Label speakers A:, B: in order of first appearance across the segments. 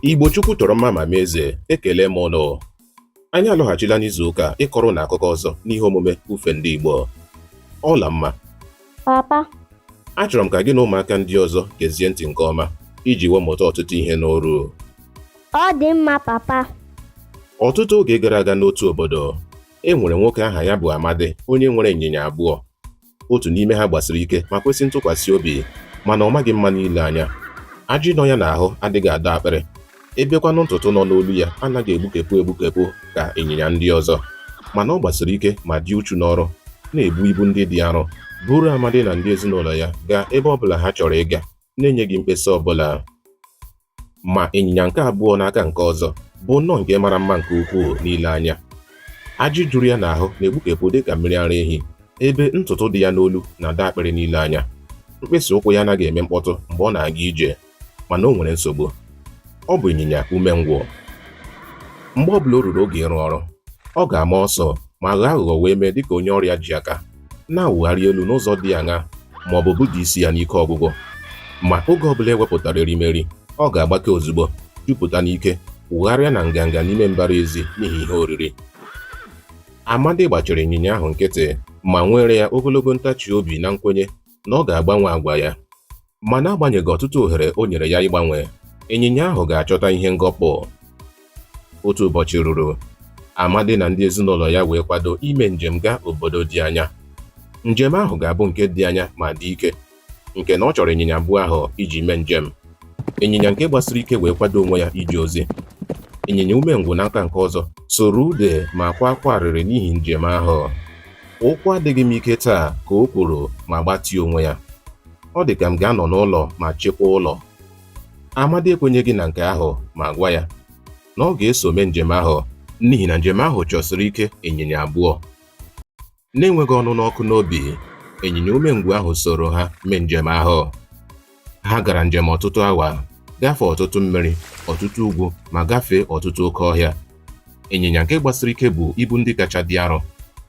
A: Igbo Chukwu chọrọ mma ma mee eze ekele m unu anyị alọghachila n'izu ụka a ịkọrọ unu akụkọ ọzọ n'ihe omume ufe ndị Igbo Ọlamma papa
B: achọrọ
A: m ka gị na ụmụaka ndị ọzọ gezie ntị nke ọma iji wee mụta ọtụtụ ihe n'oru ọ
B: dị mma papa ọtụtụ
A: oge gara aga n'otu obodo e nwere nwoke aha ya bụ Amadi onye nwere ịnyịnya abụọ otu n'ime ha gbasiri ike ma kwesị ntụkwasị obi mana ọ maghị mma n'ile anya ajị nọ ya n'ahụ adịghị adọ akpịrị ebekwanụ ntutu nọ n'olu ya anaghị egbukepụ egbukepụ ka ịnyịnya ndị ọzọ mana ọ gbasiri ike ma dị uchu n'ọrụ na-ebu ibu ndị dị arọ buru Amadi na ndị ezinụlọ ya gaa ebe ọbụla ha chọrọ ịga na-enyeghị mkpesa ọbụla ma ịnyịnya nke abụọ n'aka nke ọzọ bụ nnọọ nke mara mma nke ukwuu n'ile anya ajị juru ya n'ahụ na-egbukepụ dị ka mmiri ara ehi ebe ntutu dị ya n'olu na-adọ akpịrị n'ile anya mkpịsị ụkwụ ya anaghị eme mkpọtụ mgbe ọ na-aga ije mana o nwere nsogbu ọ bụ ịnyịnya umengwụ mgbe ọ bụla o ruru oge ịrụ ọrụ ọ ga-ama ọsọ ma ghọọ aghụghọ wee mee dịka onye ọrịa ji aka na-awụgharị elu n'ụzọ dị aṅa ma ọ bụ buda isi ya n'ike ọgwụgwụ ma oge ọbụla e wepụtara erimeri ọ ga-agbake ozugbo jupụta n'ike wụgharịa na nganga n'ime mbara ezi n'ihi ihe oriri Amadi gbachiri ịnyịnya ahụ nkịtị ma nweere ya ogologo ntachi obi na nkwenye na ọ ga-agbanwe agwa ya ma n'agbanyeghị ọtụtụ ohere o nyere ya ịgbanwe ịnyịnya ahụ ga-achọta ihe ngọpụ otu ụbọchị ruru Amadi na ndị ezinụlọ ya wee kwado ime njem gaa obodo dị anya njem ahụ ga-abụ nke dị anya ma dị ike nke na ọ chọrọ ịnyịnya abụọ ahụ iji mee njem ịnyịnya nke gbasiri ike wee kwado onwe ya ije ozi ịnyịnya umengwụ n'aka nke ọzọ sụrụ ude ma kwaa akwa arịrị n'ihi njem ahụ ụkwụ adịghị m ike taa ka o kwuru ma gbatie onwe ya Ọ dị ka m ga-anọ n'ụlọ ma chekwaa ụlọ. Amadi ekwenyeghị na nke ahụ ma gwa ya na ọ ga-eso mee njem ahụ n'ihi na njem ahụ chọsiri ike ịnyịnya abụọ. N'enweghị ọnụnụ ọkụ n'obi, ịnyịnya umengwụ ahụ soro ha mee njem ahụ. Ha gara njem ọtụtụ awa, gafee ọtụtụ mmiri, ọtụtụ ugwu ma gafee ọtụtụ oke ọhịa ịnyịnya nke gbasiri ike bu ibu ndị kacha dị arọ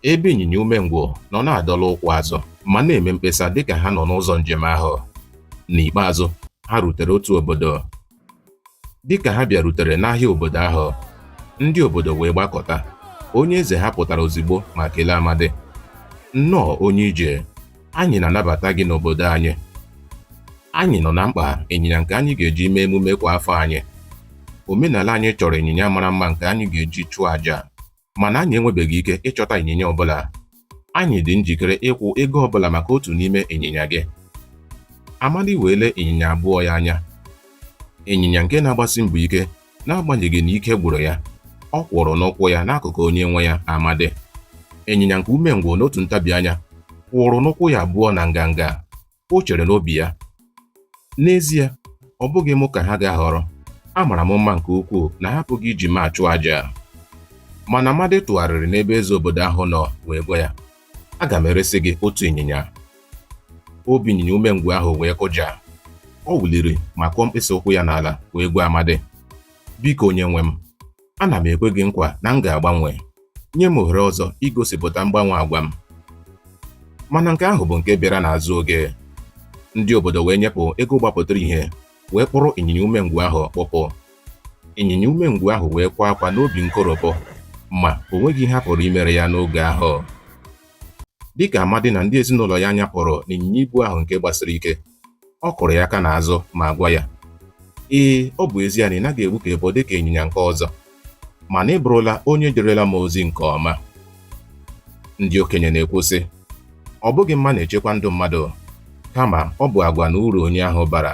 A: ebe ịnyịnya umengwụ nọ na-adọla ụkwụ azụ ma na-eme mkpesa dịka ha nọ n'ụzọ njem ahụ n'ikpeazụ ha rutere otu obodo dịka ha bịarutere n'ahịa obodo ahụ ndị obodo wee gbakọta onye eze ha pụtara ozigbo ma kelee Amadi nnọọ onye ije Anyị na-anabata gị n'obodo anyị. Anyị nọ na mkpa ịnyịnya nke anyị ga-eji mee emume kwa afọ anyị. Omenala anyị chọrọ ịnyịnya mara mma nke anyị ga-eji chụọ aja, mana anyị enwebeghị ike ịchọta ịnyịnya ọbụla. Anyị dị njikere ịkwụ ego ọbụla maka otu n'ime ịnyịnya gị. Amadi wee lee ịnyịnya abụọ ya anya. Ịnyịnya nke na-agbasi mbọ ike N'agbanyeghị na ike gwụrụ ya, ọ kwụrụ n'ụkwụ ya n'akụkụ onye nwe ya Amadi. Ịnyịnya nke umengwụ n'otu ntabi anya kwụrụ n'ụkwụ ya abụọ na nganga. O chere n'obi ya, N'ezie, ọ bụghị mụ ka ha ga-ahọrọ. Amara m mma nke ukwuu na ha apụghị iji m achụ aja. Mana Amadi tụgharịrị n'ebe eze obodo ahụ nọ wee gwa ya, Aga m eresi gị otu ịnyịnya. Obi ịnyịnya umengwụ ahụ wee kụja. Ọ wụliri ma kụọ mkpịsị ụkwụ ya n'ala wee gwa Amadi, Biko onye nwe m, ana m ekwe gị nkwa na m ga-agbanwe. Nye m ohere ọzọ igosipụta mgbanwe agwa m. Mana nke ahụ bụ nke bịara n'azụ oge. Ndị obodo wee nyepụ ego gbapụtara ihe wee kpụrụ ịnyịnya umengwụ ahụ kpụpụ ịnyịnya umengwụ ahụ wee kwa akwa n'obi nkoropụ ma o nweghị ihe a pụrụ imere ya n'oge ahụ dịka Amadi na ndị ezinụlọ ya nyapụrụ n'ịnyịnya ibu ahụ nke gbasiri ike ọ kụrụ ya aka n'azụ ma gwa ya ee ọ bụ ezie na ị naghị egbukepụ dịka ịnyịnya nke ọzọ mana ị bụrụla onye jerela m ozi nke ọma ndị okenye na-ekwu sị ọ bụghị mma na-echekwa ndụ mmadụ kama ọ bụ agwa na uru onye ahụ bara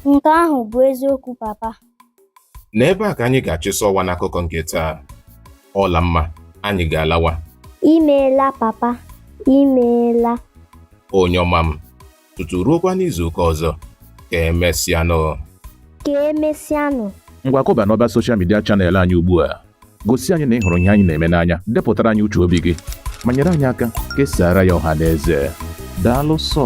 A: nke
B: ahụ bụ eziokwu papa n'ebe
A: a ka anyị ga-achịsọ ọwa n'akụkọ nke taa ọla mma anyị ga-alawa imeela
B: papa imeela onye
A: ọma m tutu ruokwa n'izu ụka ọzọ ka emesịanụ ka
B: emesịanụ ngwa kọba n'ọba
C: soshal midia chanel anyị ugbu a gosi anyị na ị hụrụ ihe anyị na-eme n'anya depụtara anyị uche obi gị ma nyere anyị aka kesaara ya ọha na eze daalụ sọ